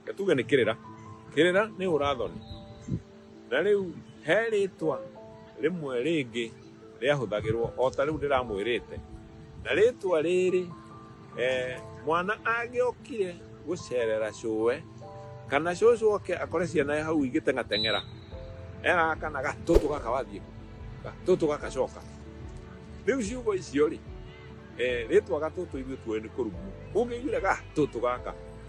Reke tuge nĩ kĩrĩra kĩrĩra nĩ ũrathoni na rĩu he rĩtwa rĩmwe rĩngĩ rĩahũthagĩrwo o ta rĩu ndĩramwĩrĩte na rĩtwa rĩrĩ eh, mwana angĩokire gũcerera cũwe kana cũcũ oke akore ciana ya hau igĩteng'ateng'era ena kana gatũtũ gaka wathiĩ gatũtũ gakacoka rĩu ciugo icio rĩ eh, rĩtwa gatũtũ ithuĩ tuoĩ nĩ kũruguo ũngĩiguire gatũtũ gaka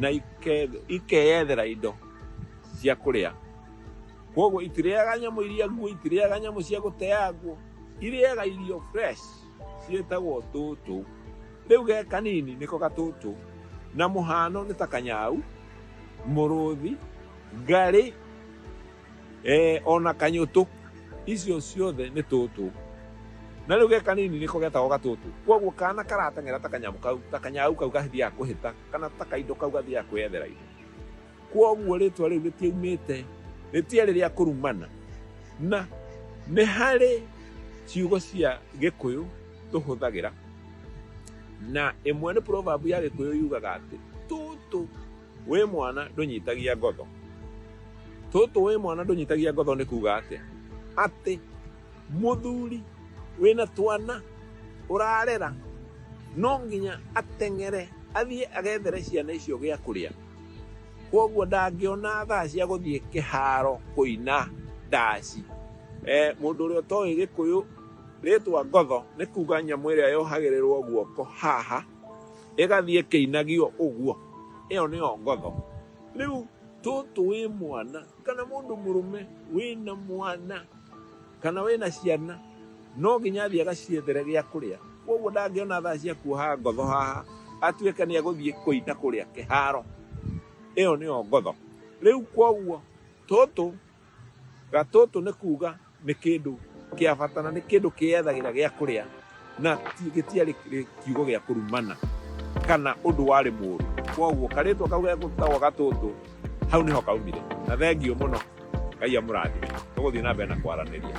na ikeyethera indo cia kũrĩa koguo itirĩaga nyamũ iria nguo itirĩaga nyamũ cia gũteangwo irĩaga irio fresh ciĩtagwo tũtũ rĩu ge kanini nĩko gatũtũ na mũhano nĩ ta kanyau mũrũthi ngarĩ ee o na kanyũtũ icio ciothe nĩ tũtũ na rĩu ge kanini nĩko getagwo gatũtũ koguo kana karateng'era ta kanyamũ kau ta kanyau kau gathiaga kũhĩta kana ta kaindo kau gathiaga kwĩyethera indo koguo rĩtwa rĩu rĩtiaumĩte rĩtiarĩ rĩa kũrumana na nĩ harĩ ciugo cia gĩkũyũ tũhũthagĩra na ĩmwe nĩ proverb ya gĩkũyũ yugaga atĩ tũtũ Wĩ mwana ndũnyitagia ngotho. Tũtũ wĩ mwana ndũnyitagia ngotho nĩ kuga atĩa? Atĩ mũthuri wĩna twana ũrarera no nginya ateng'ere athiĩ agethere ciana icio gĩa kũrĩa. Kwoguo ndangĩona thaa cia gũthiĩ kĩharo kũina ndaci. Eh, mũndũ ũrĩa ũtoĩ gĩkũyũ rĩtwa ngotho nĩ kuga nyamũ ĩrĩa yohagĩrĩrwo guoko haha ĩgathiĩ ĩkĩinagio ũguo ĩyo nĩyo ngotho rĩu tũtũ wĩ mwana kana mũndũ mũrũme wĩna mwana kana wĩna ciana no nginya athiĩ agaciethere gĩa kũrĩa koguo ndangĩona thaa cia kuoha ngotho haha atuĩke nĩ egũthiĩ kũina kũrĩa kĩharo ĩyo nĩyo ngotho rĩu koguo tũtũ Gatũtũ nĩ kuuga nĩ kĩndũ kĩa bata na nĩ kĩndũ kĩyethagĩra gĩa kũrĩa na gĩtiarĩ kiugo gĩa kũrumana kana ũndũ warĩ mũru. Koguo karĩtwa kau gegũtagwo Gatũtũ hau nĩho kaumire. Na thengiũ mũno, Ngai amũrathime. Tũgũthiĩ na mbere na kwaranĩria.